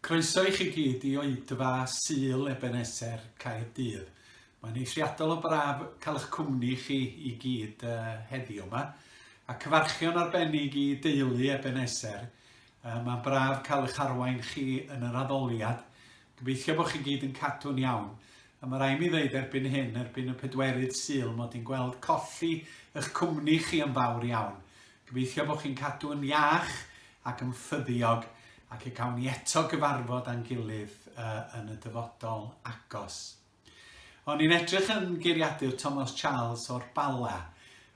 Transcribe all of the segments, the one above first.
Croeso i chi gyd i Oedfa Sul Ebeneser Caerdydd. Mae'n eithriadol o braf cael eich cwmni chi i gyd uh, heddiw yma. A cyfarchion arbennig i deulu Ebeneser. Uh, Mae'n braf cael eich arwain chi yn yr addoliad. Gobeithio bod chi gyd yn cadw'n iawn. A ma' rai' mi ddeud erbyn hyn, erbyn y pedwerydd Sul, mod i'n gweld colli 'ych cwmni chi yn fawr iawn. Gobeithio bo' chi'n cadw yn iach ac yn ffyddiog ac y cawn ni eto gyfarfod â'n gilydd yn y dyfodol agos. O'n i'n edrych yn geiriadur Tomos Charles o'r Bala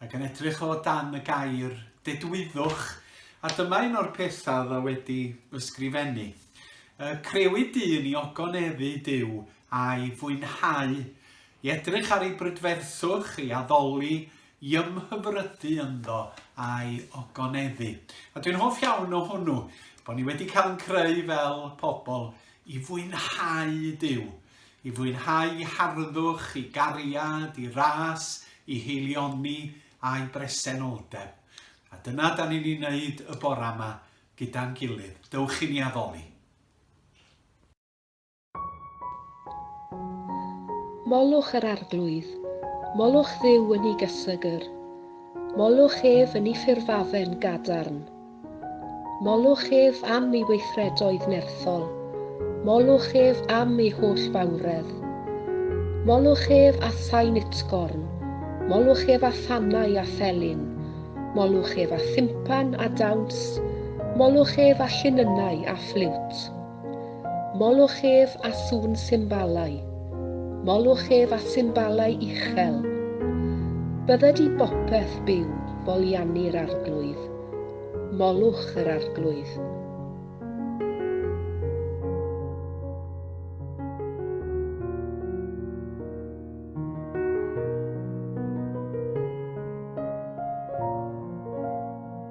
ac yn edrych o dan y gair dedwyddwch a dyma un o'r pethau oedd o wedi ysgrifennu. Crewyd dyn i ogoneddu Duw a'i fwynhau, i edrych ar ei brydferthwch, ei addoli, i ymhyfrydu ynddo a'i ogoneddu. A dwi'n hoff iawn o hwnnw, bod ni wedi cael yn creu fel pobl i fwynhau Dyw, i fwynhau i harddwch, i gariad, i ras, i heilioni a'i bresenoldeb. A dyna da ni'n ei wneud y bora yma gyda'n gilydd. Dewch i ni addoli. Molwch yr arglwydd, molwch Dduw yn 'i gysegr, molwch ef yn 'i ffurfafen gadarn. Molwch ef am 'i weithredoedd nerthol, molwch ef am 'i holl fawredd. Molwch ef â thain utgorn, molwch ef â thannau a phelyn, molwch ef â thympan a dawns, molwch ef â llinynnau a ffliwt. Molwch ef â sŵn symbalau. Molwch ef â symbalau uchel. Bydded i bopeth byw foliannu'r Arglwydd. Molwch yr Arglwydd.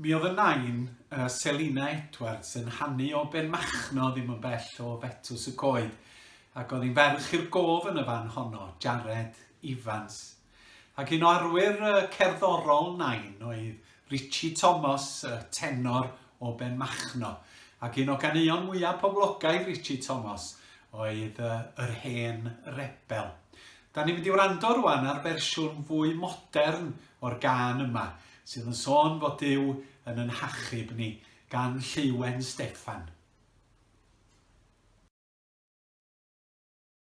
Mi oedd y nain, uh, Selina Edwards, yn hannu o Ben Machno ddim yn bell o Fetws y Coed, ac oedd hi'n ferch i'r gof yn y fan honno, Jared Evans, Ac un o arwyr cerddorol Nain oedd Richie Thomas, y tenor o Benmachno, ac un o ganeuon mwyaf poblogaidd Richie Thomas oedd Yr Hen Rebel. Da ni'n mynd i wrando rwan ar fersiwn fwy modern o'r gân yma, sydd yn sôn fod Dyw yn yn hachub ni, gan Lleuwen Steffan.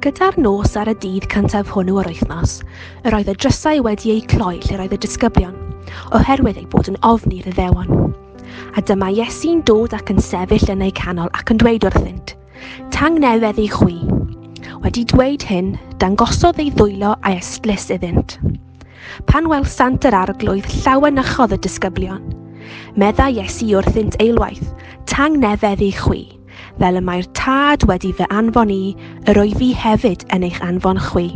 Gyda'r nos ar y dydd cyntaf hwnnw o'r wythnos, yr oedd y drysau wedi eu cloi lle roedd y disgyblion, oherwydd eu bod yn ofni rhyddewon. A dyma Iesu'n dod ac yn sefyll yn eu canol ac yn dweud wrthynt, Tangnefedd i chwi. Wedi dweud hyn, dangosodd ei ddwylo a'i ystlys iddynt. Pan welsant yr arglwydd llawenychodd y disgyblion. Medda Iesu wrthynt eilwaith, Tangnefedd i chwi, fel y mae'r Tad wedi fy anfon i, yr o'i fi hefyd yn eich anfon chwi.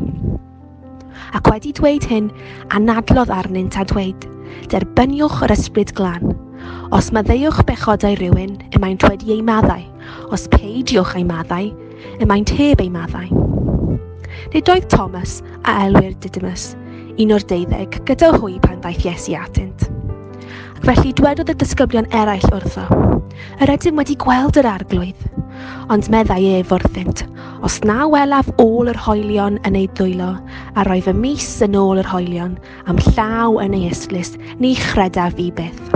Ac wedi dweud hyn, anadlodd arnynt a dweud, Derbyniwch yr ysbryd glan. Os maddeuwch bechodau rhywun, y mae'n twed ei maddau, os peidiwch ei maddau, y maent heb eu maddau. Nid oedd Thomas, a elwir Didymus, un o'r deuddeg, gyda hwy pan ddaeth Iesu atynt. Ac felly dwedodd y disgyblion eraill wrtho, Yr ydym wedi gweld yr arglwydd. Ond meddai ef wrthynt, Os na welaf ôl yr hoelion yn eu dwylo, a roedd y mis yn ôl yr hoelion, am llaw yn ei estlys, ni chredaf i byth.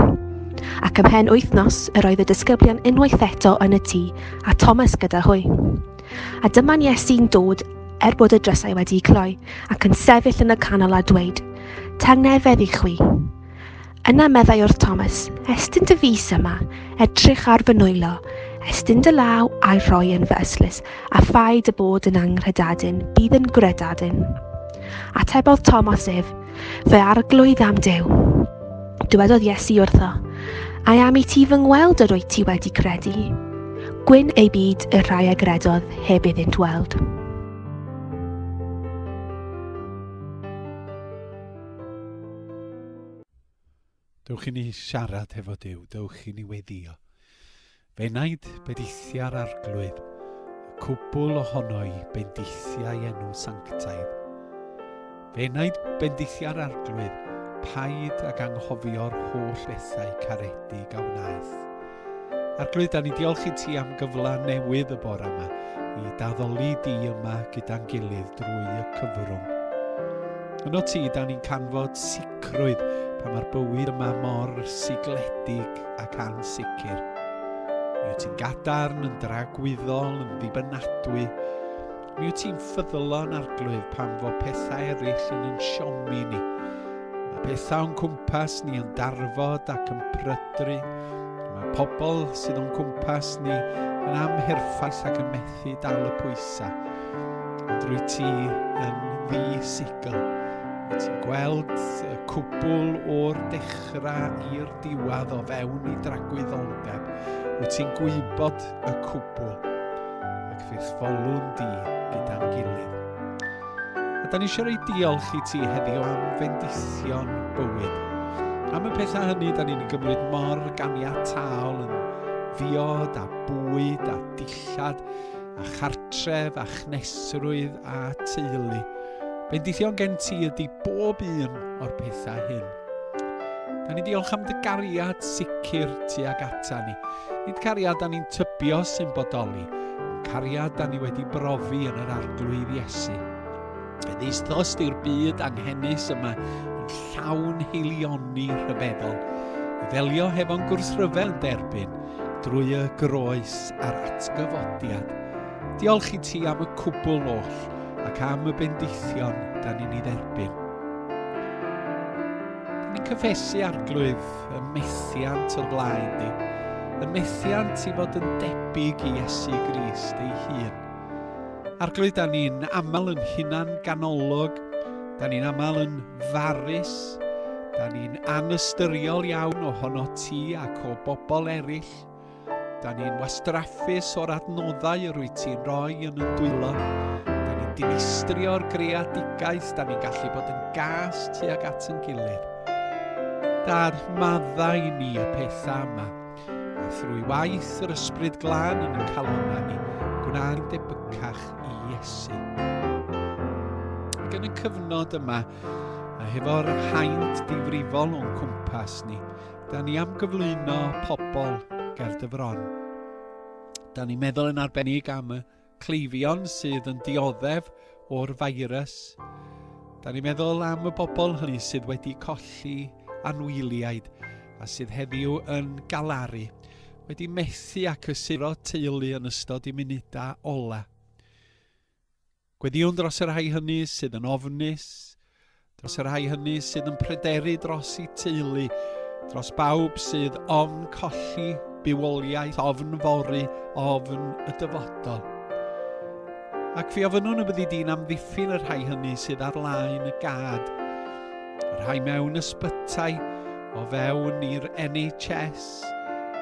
Ac ymhen wythnos, yr oedd y disgyblion unwaith eto yn y tŷ, a Thomas gyda hwy. A dyma'n Iesu'n dod er bod y drysau wedi cloi, ac yn sefyll yn y canol a dweud, Tangnefedd i chwi. Yna meddai wrth Thomas, estyn dy fus yma, edrych ar fy nwylo, estyn dy law a'i rhoi yn fy ystlys, a phai dy bod yn anghredadun, bydd yn gwredadun. Atebodd Thomas ef, fe arglwydd am Dew. Dywedodd Iesu wrtho, Ai am i ti fy ngweld yr wyt ti wedi credu? Gwyn ei byd y rhai a gredodd heb iddynt weld. Dewch i ni siarad hefo Duw, dewch i ni weddio. Fe wnaed bedithiau'r arglwydd, y cwbl ohono i bendithiau enw sanctaidd. Fe wnaed bendithiau'r arglwydd, paid ag anghofio'r holl ethau caredig a wnaeth. Arglwydd, da ni diolch i ti am gyfle newydd y bore yma i daddoli di yma gyda'n gilydd drwy y cyfrwng. Yno ti, da ni'n canfod sicrwydd pan mae'r bywyd yma mor sigledig ac ansicr. Mi wyt ti'n gadarn, yn dragwyddol, yn ddibynadwy, Mi wyt ti'n ffyddlon arglwydd pan fo pethau eraill yn yn siomi ni. Mae pethau o'n cwmpas ni yn darfod ac yn prydru. Mae pobl sydd o'n cwmpas ni yn amherffaith ac yn methu dal y pwysau. Ond rwy ti yn ddi-sigl. Wyt ti'n gweld y cwbl o'r dechrau i'r diwedd o fewn i dragwyddoldeb. Wyt ti'n gwybod y cwbl Fes folwn di gyda'n gilydd. A da ni eisiau rei diolch i ti heddiw am fendithion bywyd. Am y pethau hynny, da ni'n gymryd mor ganiataol yn ddiod a bwyd a dillad a chartref a chnesrwydd a teulu. Bendithion gen ti ydy bob un o'r pethau hyn. Da ni diolch am dy gariad sicr tuag ata ni. Nid cariad da ni'n tybio sy'n bodoli, cariad da ni wedi brofi yn yr arglwydd Iesu. Yn eisthos di'r byd anghenus yma yn llawn heilioni rhyfeddol, i ddelio hefo'n gwrsryfel derbyn drwy y groes a'r atgyfodiad Diolch i ti am y cwbl oll ac am y bendithion da ni'n ei dderbyn. Ni'n cyffesu arglwydd y methiant o'r blaen di, y methiant i fod yn debyg i Iesu Grist ei hun. Arglwydd, da ni'n aml yn hunan ganolog, da ni'n aml yn farus, da ni'n anystyriol iawn ohono ti ac o bobl eraill, Da ni'n wastraffus o'r adnoddau yr wyt ti'n rhoi yn y dwylo. Da ni'n dinistrio'r greadigaeth, da ni'n gallu bod yn gas tuag at yn gilydd. Dar maddau i ni y pethau yma, a thrwy waith yr ysbryd glân yn y calonau ni, gwna'n debycach i Iesu. Ac yn y cyfnod yma, a hefo'r haint difrifol o'n cwmpas ni, Da ni am gyflwyno pobl ger dy fron. Da ni'n meddwl yn arbennig am y cleifion sydd yn dioddef o'r feirws. Da ni'n meddwl am y bobl hynny sydd wedi colli anwyliaid a sydd heddiw yn galaru, wedi methu ac ysuro teulu yn ystod i munudau ola. Gweddïwn dros y rhai hynny sydd yn ofnus, dros y rhai hynny sydd yn pryderu dros eu teulu, dros bawb sydd ofn colli bywoliaeth, ofn fory, ofn y dyfodol. Ac fi ofynnwn y byddi di'n amddiffyn y rhai hynny sydd ar laen y gad, y rhai mewn ysbytai, o fewn i'r NHS, Ffrangers,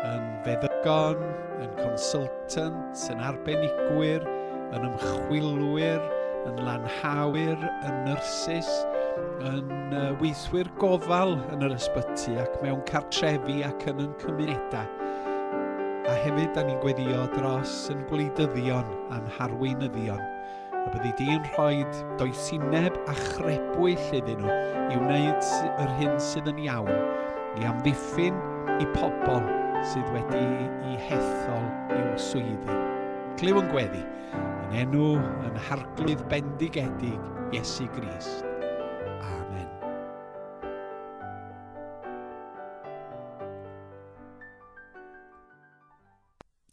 yn feddygon, yn consultant, yn arbenigwyr, yn ymchwilwyr, yn lanhawyr, yn nyrsys, yn uh, weithwyr gofal yn yr ysbyty ac mewn cartrefi ac yn yn cymunedau. A hefyd, da ni'n gweddio dros yn gwleidyddion a'n harweinyddion. A byddi di yn rhoi doethineb a chrebwyll iddyn nhw i wneud yr hyn sydd yn iawn, i amddiffyn i pobl sydd wedi i hethol i'w swyddi. Clyw yn gweddi, yn enw yn harglwydd bendigedig Iesu Grist.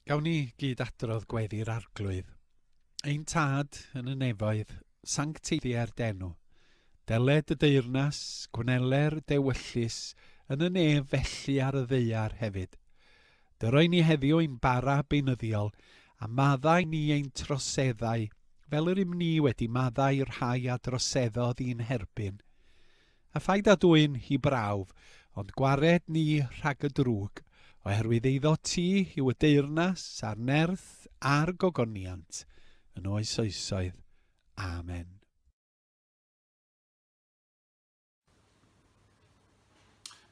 Gawn ni gyd adrodd gweddi'r Arglwydd. Ein Tad yn y nefoedd, sancteiddia'r denw. Deled y deyrnas, gwneler y dewyllys, yn y nef felly ar y ddeuar hefyd. Dyroi ni heddiw ein bara beunyddiol, a maddau ni ein troseddau, fel yr ym ni wedi maddau rhai a droseddodd i'n herbyn. A phaid â dwyn hi brawf, ond gwared ni rhag y drwg, oherwydd eiddo ti yw y deyrnas, a'r nerth, a'r gogoniant, yn oes oesoedd. Amen.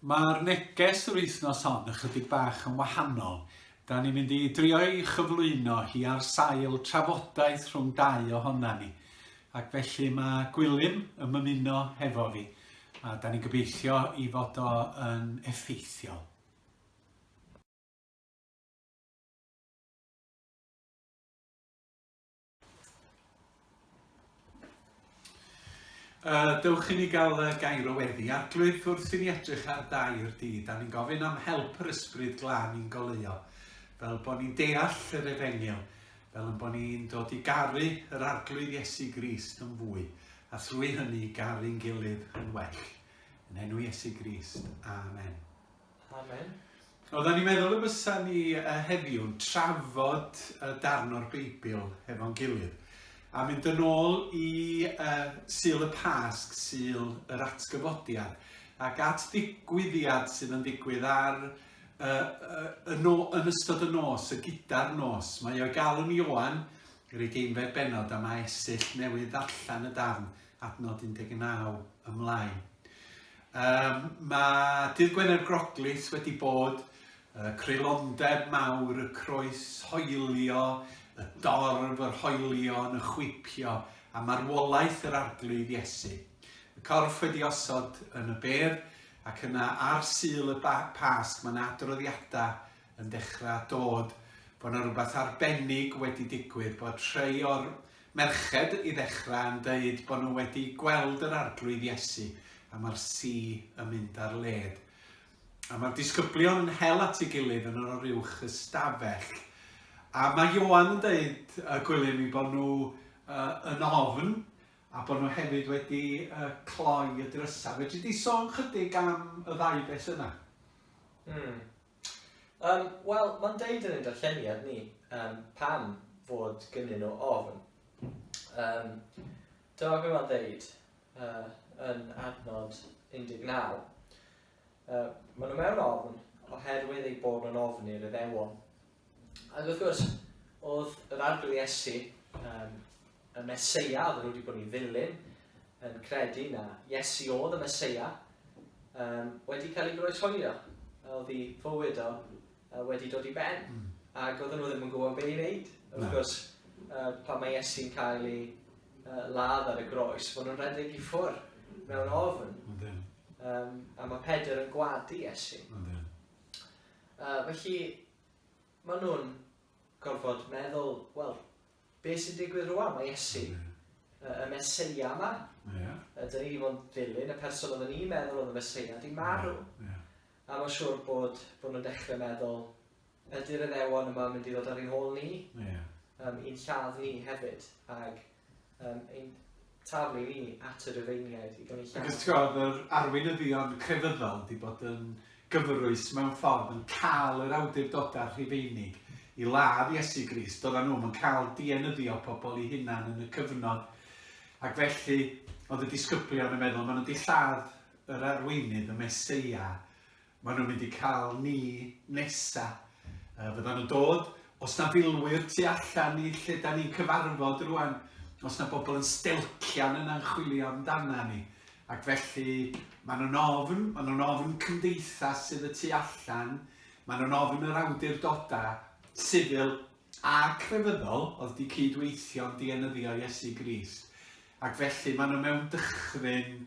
Mae'r neges yr wythnos hon ychydig bach yn wahanol, da ni'n mynd i drio'i chyflwyno hi ar sail trafodaeth rhwng dau ohona ni. Ac felly mae Gwilym yn mymuno hefo fi, a da ni'n gobeithio i fod o yn effeithiol. Uh, dewch i ni gael uh, gair o weddi. Arglwydd, wrth i ni edrych ar dair di, da ni'n gofyn am help yr ysbryd glân i'n goleuo, fel bod ni'n deall yr efengyl, fel ein bod ni'n dod i garu yr Arglwydd Iesu Grist yn fwy, a thrwy hynny garu'n gilydd yn well. Yn enw Iesu Grist. Amen. Amen. Oedden ni'n meddwl y bysa ni heddiw'n trafod y darn o'r Beibl hefo'n gilydd a mynd yn ôl i uh, Sil y Pasg, Sil yr Atgyfodiad, ac at ddigwyddiad sydd yn digwydd ar y no, yn ystod y nos, y gyda'r nos. Mae o'i galw'n Ioan, yr ugeinfed benod, a mae esill newydd ddarllen y darn adnod 19 ymlaen. Um, mae Dydd Gwener Groglith wedi bod uh, creulondeb mawr, y croes hoelio, y dorf, yr hoelion, y chwipio, a marwolaeth yr arglwydd Iesu. Y corff wedi osod yn y ber, Ac yna ar Sul y Pasg mae 'na adroddiadau yn dechrau dod bod 'na rywbeth arbennig wedi digwydd, bod rhai o'r merched i ddechrau yn deud bod nhw wedi gweld yr Arglwydd Iesu a mae'r si yn mynd ar led. A mae'r disgyblion yn hel at ei gilydd yn yr oruwch ystafell. A mae Ioan yn deud y gwylym i bod nhw uh, yn ofn a bod nhw hefyd wedi uh, cloi y drysau. Fe ti di sôn chydig am y ddau beth yna? Hmm. Um, Wel, mae'n deud yn ein darlleniad ni um, pam fod gynnyn nhw ofn. Um, Dyma beth mae'n deud uh, yn adnod 19. Uh, maen nhw mewn ofn oherwydd eu bod nhw'n ofn i'r iddewon Ac wrth gwrs, oedd yr arglwydd Iesu, um, y Mesoea, oedd nhw wedi bod i ddilyn, yn credu na Iesu oedd y Mesoea, um, wedi cael ei groeshoelio. Oedd ei fywyd o uh, wedi dod i ben. Mm. Ac oedd nhw ddim yn gwybod beth i wneud. Wrth no. gwrs, uh, pan mae Iesu'n cael ei uh, ladd ar y groes, maen nhw'n redeg i ffwrdd mewn ofn. Um, a mae Pedr yn gwadu Iesu. Yy, felly, maen nhw'n gorfod meddwl, wel, be sy'n digwydd rwan? Mae Iesu, y, y Meseia yma. Yeah. Ydyn ni wedi bod yn dilyn y person oedden ni'n meddwl oedd y Meseia, di marw. Yeah. A mae'n siŵr bod, bod nhw'n dechrau meddwl, ydy'r eddewon yma mynd i ddod ar ein hôl ni? Yeah. Um, i'n lladd ni hefyd. Ac um, ein talu ni at y Rufeiniaid i gael ei lladd. Ac os ti'n gwybod, yr arweinyddion crefyddol wedi bod yn gyfrwys mewn ffordd yn cael yr awdurdodau rhufeinig i ladd Iesu Grist, doedden nhw'n yn cael dienyddio pobl i hunan yn y cyfnod. Ac felly, oedd y disgyblion yn meddwl, maen nhw wedi lladd yr arweinydd, y Mesoea, Maen nhw'n mynd i cael ni nesa. Uh, fyddan nhw'n dod, os na filwyr tu allan i lle da ni'n cyfarfod rwan, os na bobl yn stelcian yna'n chwilio amdana ni. Ac felly, maen nhw'n ofn, maen nhw'n ofn cymdeithas sydd y tu allan, maen nhw'n ofn yr awdurdodau, sifil a crefyddol oedd di cydweithio'n dienyddio Iesu Grist. Ac felly maen nhw mewn dychryn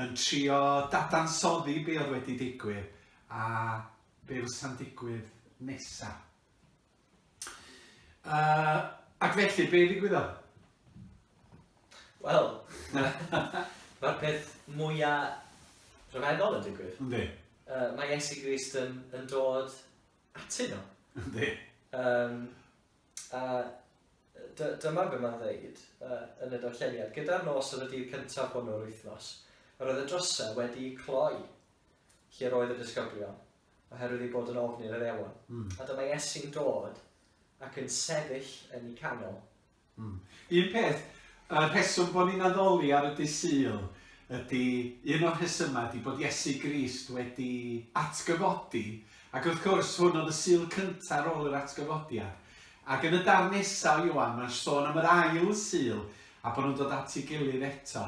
yn trio dadansoddi be oedd wedi digwydd a be fysa'n digwydd nesa. Uh, ac felly, be ddigwyddodd? Wel, mae'r peth mwyaf rhyfeddol yn digwydd. Yndi. Uh, mae Iesu Grist yn, yn dod atyn nhw. Yndi. Um, a dy, dyma be mae'n ddeud uh, yn y darlleniad. Gyda'r nos oedd y dydd cyntaf hwnnw yr wythnos, yr oedd y drysau wedi cloi lle roedd y disgyblion, oherwydd ei bod yn ofn i'r addewon. Mm. A dyma Iesu'n dod ac yn sefyll yn ei canol. Mm. Un peth, y rheswm bod ni'n addoli ar y dysil ydy, un o'r rhesymau ydy bod Iesu Grist wedi atgyfodi Ac wrth gwrs, hwn oedd y Sul cyntaf ar ôl yr atgyfodiad. Ac yn y darn nesaf o Ioan, mae'n sôn am yr ail Sul, a bod nhw'n dod at ei gilydd eto.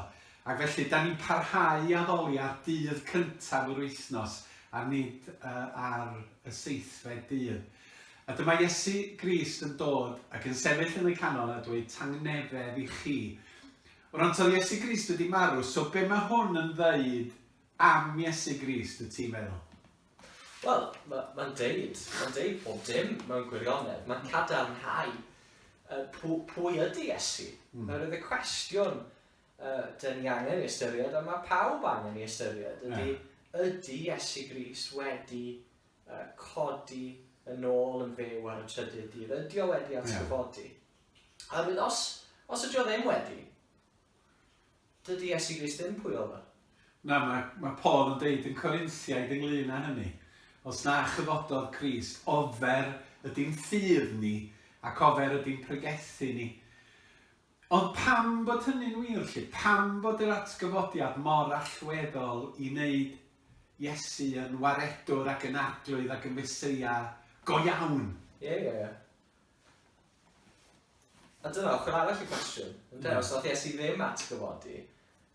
Ac felly, da ni'n parhau i addoli ar dydd cyntaf yr wythnos, a nid ar y seithfed dydd. A dyma Iesu Grist yn dod ac yn sefyll yn y canol a dweud tangnefedd i chi. Wrant oedd Iesu Grist wedi marw, so be mae hwn yn ddeud am Iesu Grist, y ti'n meddwl? Wel, ma, mae'n deud, mae'n deud pob dim mewn gwirionedd. Mae'n cadarnhau uh, pw, pwy ydy Iesu. Mm. Nawr, ydy cwestiwn uh, dyn ni angen i ystyried, a mae pawb angen i ystyried, ydy, yeah. ydy Iesu Gris wedi uh, codi yn ôl yn fyw ar y trydydd dydd? Ydy o wedi atgyfodi? Yeah. A os, os ydy o ddim wedi, Dydy Iesu Grist ddim pwy oedd o. Na, mae, mae Paul yn deud yn Corinthiaid ynglyn â hynny, Os na chyfododd Crist, ofer ydy'n ffydd ni, ac ofer ydy'n pregethu ni. Ond pam bod hynny'n wir, lle? Pam bod yr atgyfodiad mor allweddol i wneud Iesu yn waredwr ac yn arglwydd ac yn Meseia go iawn? Ie, ie, ie. A dyna ochr arall y cwestiwn, ynde? Mm. Os nath Iesu ddim atgyfodi,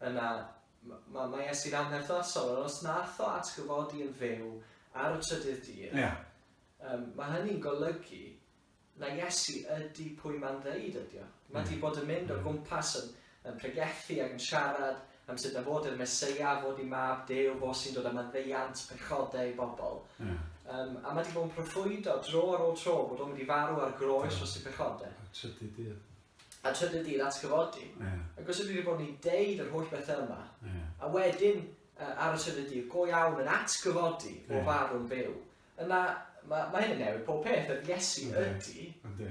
yna mae ma Iesu'n anherthnasol, ond os nath o atgyfodi yn fyw ar y trydydd dydd, yeah. um, mae hynny'n golygu na Iesu ydy pwy mae'n ddeud ydy o. Mae yeah. di bod yn mynd o gwmpas yn, yn pregethu ac yn siarad am sut na fod i'r Meseia fod i mab Duw, fo sy'n dod â maddeuant pechodau i bobl. Yeah. Um, a mae wedi bod yn proffwydo dro ar ôl tro bod o'n mynd i farw ar groes dros y pechodau. A trydydd dydd. A trydydd dydd atgyfodi. Yeah. Ac os ydy wedi bod ni'n deud yr holl bethau yma, yeah. a wedyn uh, ar y trydydd dydd, go iawn yn atgyfodi yeah. o farw'n byw, yna mae ma hyn yn newid pob peth, yr Iesu ydy. Ydy.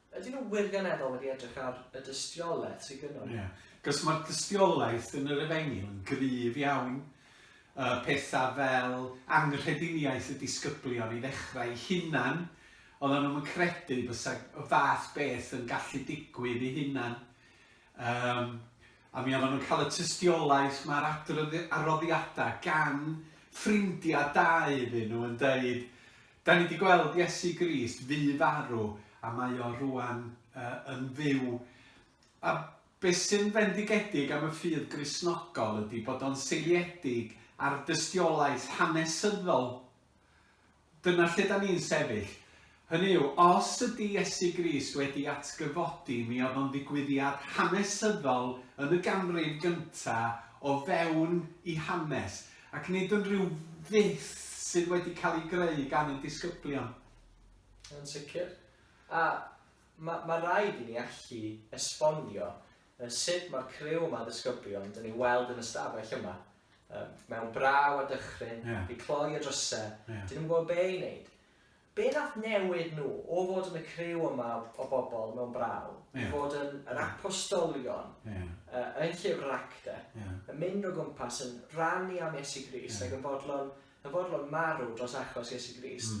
Ydyn nhw wirioneddol wedi edrych ar y dystiolaeth sydd gynnon ni? Ie, cos mae'r dystiolaeth yn yr efengyl yn gryf iawn. Y pethau fel anghrediniaeth y disgyblion i ddechrau eu hunan, oedden nhw'm yn credu bysa y fath beth yn gallu digwydd eu hunan. Yym, a mi oedden nhw'n cael y tystiolaeth mae'r adroddiadau gan ffrindiau da iddyn nhw yn dweud Da ni 'di gweld Iesu Grist fu farw a mae o rŵan uh, yn fyw. A be sy'n fendigedig am y ffydd Gristnogol ydy bod o'n seiliedig ar dystiolaeth hanesyddol. Dyna lle da ni'n sefyll. Hynny yw, os ydy Iesu Grist wedi atgyfodi, mi oedd o'n ddigwyddiad hanesyddol yn y ganrif gyntaf o fewn i hanes. Ac nid yn rhyw fyth sydd wedi cael ei greu gan ein disgyblion. Yn sicr. A mae ma raid i ni allu esbonio sut mae'r criw yma o ddisgyblion dyn ni'n weld yn y stafell yma, mewn braw a dychryn, yeah. wedi cloi y drysau, yeah. dyn nhw'n gwybod be i wneud. Be nath newid nhw o fod yn y criw yma o bobl mewn braw i fod yn yr apostolion yn llyfr yr Actau, yn mynd o gwmpas yn rhannu am Iesu Grist ac yn fodlon, yn fodlon marw dros achos Iesu Grist?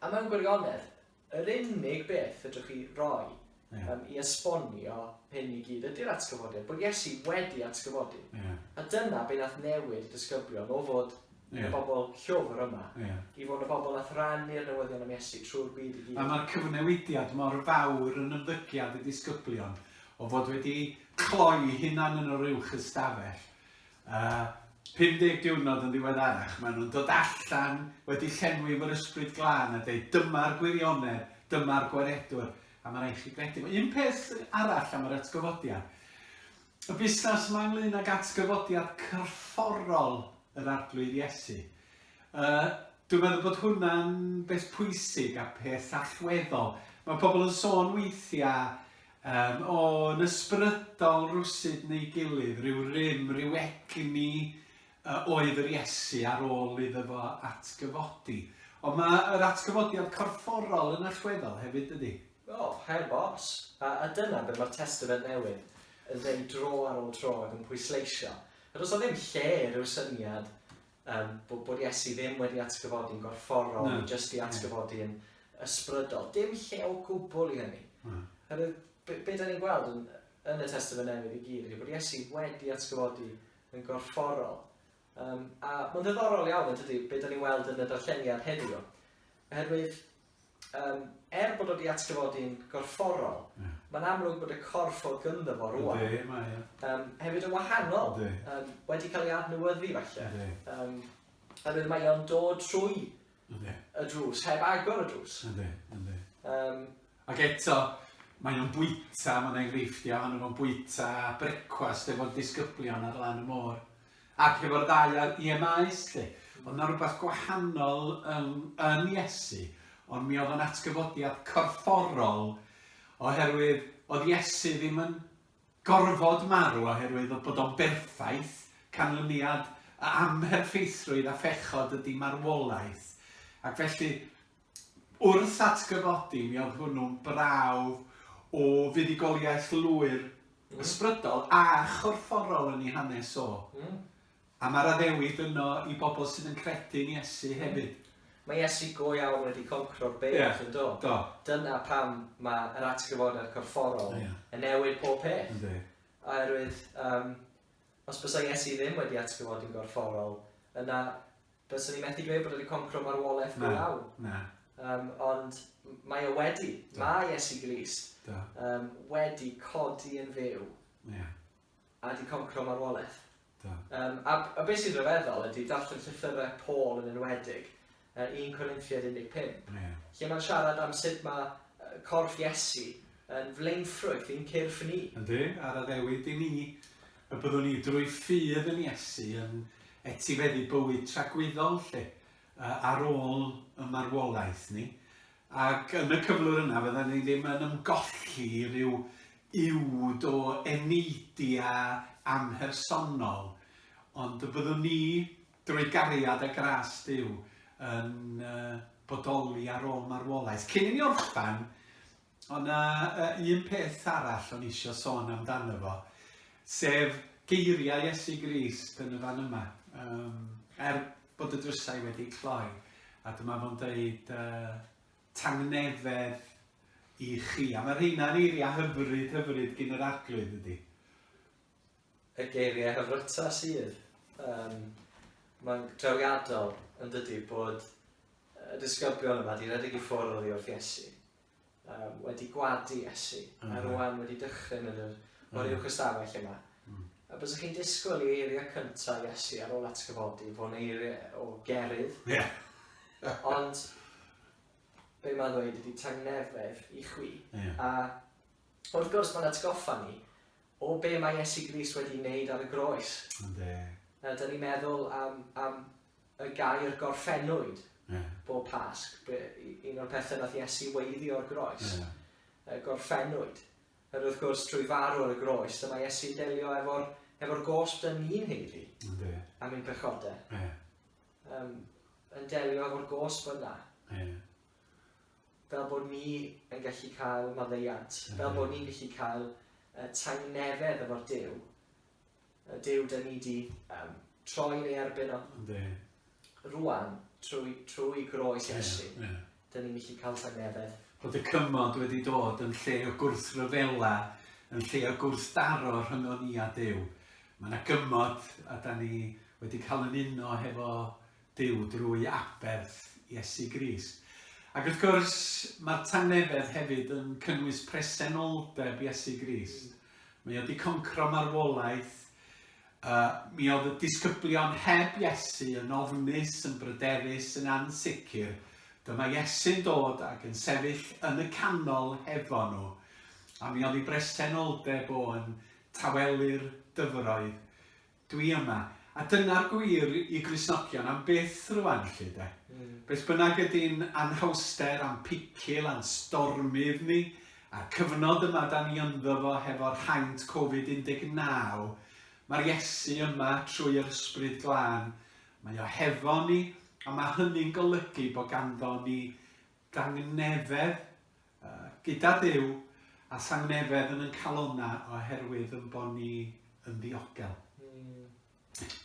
A mewn gwirionedd, yr unig beth fedrwch chi roi yeah. um, i esbonio hyn i gyd ydy'r atgyfodiad, bod Iesu wedi atgyfodi. Yeah. A dyna beth nath newid y disgyblion o fod yeah. y bobl llwfr yma, yeah. i fod y bobl nath rannu'r newyddion am Iesu trwy'r byd i gyd. A mae'r cyfnewidiad mor fawr yn ymddygiad y disgyblion o fod wedi cloi hunan yn yr uwch ystafell A 50 diwrnod yn ddiweddarach, maen nhw'n dod allan wedi llenwi efo'r Ysbryd Glân a dweud, dyma'r gwirionedd, dyma'r gwaredwr, a mae'n rhaid chi gredu fo. Un peth arall am yr atgyfodiad. Y busnes yma ynglyn ag atgyfodiad cyrfforol yr arglwydd Iesu. Uh, Dwi'n meddwl bod hwnna'n beth pwysig a peth allweddol. Mae pobl yn sôn weithiau Yym, o, yn ysbrydol rywsut neu gilydd, rhyw rym, rhyw egni yy oedd yr Iesu ar ôl iddo fo atgyfodi. Ond mae yr atgyfodiad corfforol yn allweddol hefyd, dydi? O, heb os. A a dyna be' ma'r Testament Newydd yn deud dro ar ôl tro ac yn pwysleisio. Does 'na ddim lle i ryw syniad um, bod, bod Iesu ddim wedi atgyfodi'n gorfforol, no. jyst i atgyfodi yn ysbrydol. Dim lle o gwbl i hynny. No. Hynny, be, be da ni'n gweld yn, yn y Testament Newydd i gyd ydy bod Iesu wedi atgyfodi yn gorfforol. Um, a mae'n ddiddorol iawn, ydy, beth da ni'n weld yn y darlleniad heddiw. Oherwydd, Yym, er bod o 'di atgyfodi'n gorfforol, mae'n amlwg bod y corff o'dd gynddo fo rwan... Yndi, mae o. ...yym, hefyd yn wahanol. Yndi. Yym, wedi cael ei adnewyddu falle. Yndi. Yym, oherwydd mae o'n dod trwy... Yndi. ...y drws, heb agor y drws. Yndi, yndi. Yym. Ac eto, mae o'n bwyta, ma' 'na enghreifftiau ohono fo'n bwyta brecwast efo'r disgyblion ar lan y môr. Ac efo'r ddau ar EMIs 'lly, oedd 'na rywbeth gwahanol yn yn Iesu, ond mi oedd o'n atgyfodiad corfforol, oherwydd oedd Iesu ddim yn gorfod marw oherwydd oedd bod o'n berffaith, canlyniad y amherffeithrwydd a phechod ydi marwolaeth, ac felly Wrth atgyfodi, mi oedd hwnnw'n brawf o fuddugoliaeth lwyr, ysbrydol a chorfforol yn ei hanes o. A mae'r addewid yno i bobl sydd yn credu yn Iesu hefyd. Mae Iesu go iawn wedi concro'r byd, yn do? Do. Dyna pam mae yr atgyfodiad corfforol yn newid pob peth. Yndi. Oherwydd, os bysa Iesu ddim wedi atgyfodi'n gorfforol, yna Byswn i methu dweud bod e wedi concro marwolaeth go iawn. Na, na. Um, ond mae e wedi. Do. Mae Iesu Grist um, wedi codi yn fyw. Yeah. A di concro marwolaeth. Do. Um, a, a beth sy'n rhyfeddol ydy darllen llythyrau Paul yn enwedig, uh, 1 Corinthiad 15, yeah. lle mae'n siarad am sut mae uh, corff Iesu yn flaenffrwyth i'n cyrff ni. Ydy, ar addewid i ni. Y byddwn ni drwy ffydd yn Iesu yn etifeddu bywyd tragwyddol lle, ar ôl y marwolaeth ni, ac yn y cyflwr yna fydda ni ddim yn ymgolli i ryw uwd o eneidia amhersonol, ond y byddwn ni, drwy gariad a gras Duw, yn bodoli ar ôl marwolaeth. Cyn i ni orffen, Ond na, uh, un peth arall o'n eisiau sôn amdano fo, sef geiriau Iesu Grist yn y fan yma. Um, er bod y drysau wedi cloi, a dyma fo'n dweud uh, tangnefedd i chi. A mae rheina'n eiriau hyfryd, hyfryd gyn yr arglwydd ydy. Y geiriau hyfryta sydd. Um, mae'n drawiadol yn dydy bod y disgyblion yma wedi rhedeg i ffwrdd oddi wrth Iesu. um, wedi gwadu esu, mm. a rwan wedi dychryn yn yr mm. o'r uwch ystafell yma. Mm. A bys chi'n disgwyl i eiriau cyntaf Iesu ar ôl atgyfodi fod yn eiriau o gerydd. Yeah. Ond be mae'n dweud ydy tangnefedd i chwi. Yeah. A wrth gwrs mae'n atgoffa ni o be mae Iesu Grist wedi wneud ar y groes. Ynddi. A dyn ni'n meddwl am, am y gair gorffennwyd yeah. bob Pasg. Un o'r pethau nath Iesu weiddi o'r groes. Yeah. Y gorffennwyd. Yr wrth gwrs, trwy farw ar y groes, dyma Iesu delio efo'r efo gosb dyn ni'n heiddi okay. am ein pechodau. Yeah. Um, yn delio efo'r gosb yna. Yeah. Fel bod ni yn gallu cael maddeiant. Yeah. Fel bod ni'n gallu cael uh, tangnefedd efo'r Dyw y Duw dan ni di um, troi yn ei erbyn o. Ynddi. Rwan, trwy, trwy groes Iesu, yeah, yeah. dyn ni'n gallu cael tangnefedd. Bod y cymod wedi dod yn lle o gwrthryfela, yn lle o gwrthdaro rhyngon ni a Duw. Mae yna gymod a da ni wedi cael yn uno hefo Duw drwy aberth Iesu Grist. Ac wrth gwrs, mae'r tangnefedd hefyd yn cynnwys presenoldeb Iesu Grist. Mae o wedi concro marwolaeth. Uh, mi oedd y disgyblion heb Iesu yn ofnus, yn bryderus, yn ansicr. Dyma Iesu'n dod ac yn sefyll yn y canol hefo nhw. A mi oedd ei bresenoldeb o'n tawelu'r dyfroedd. Dwi yma. A dyna'r gwir i Gristnogion am byth rwan 'lly 'de? Beth bynnag ydi'n anhawster a'n picil a'n stormydd ni, a'r cyfnod yma 'dan ni ynddo fo hefo'r haint Covid 19, ma'r Iesu yma trwy yr Ysbryd Glân, mae o hefo ni, a ma' hynny'n golygu bo' ganddo ni dangnefedd Gyda Duw a Sangnefedd yn yn calonna oherwydd yn bo ni yn ddiogel.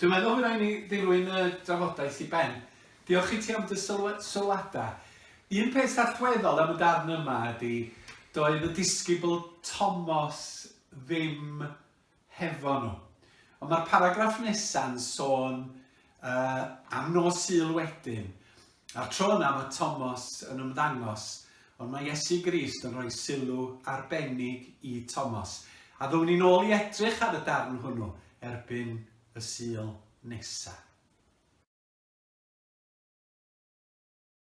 Dwi'n meddwl fy rai ni ddilwyn y drafodaeth i ben. Diolch i ti am dy sylwada. Un peth allweddol am y darn yma ydy, doedd y disgybl Tomos ddim hefo nhw. Ond mae'r paragraff nesa'n sôn uh, am nos syl wedyn. A'r tro yna mae Thomas yn ymddangos, ond mae Iesu Grist yn rhoi sylw arbennig i Thomas. A ddwn ni'n ôl i edrych ar y darn hwnnw erbyn y syl nesaf.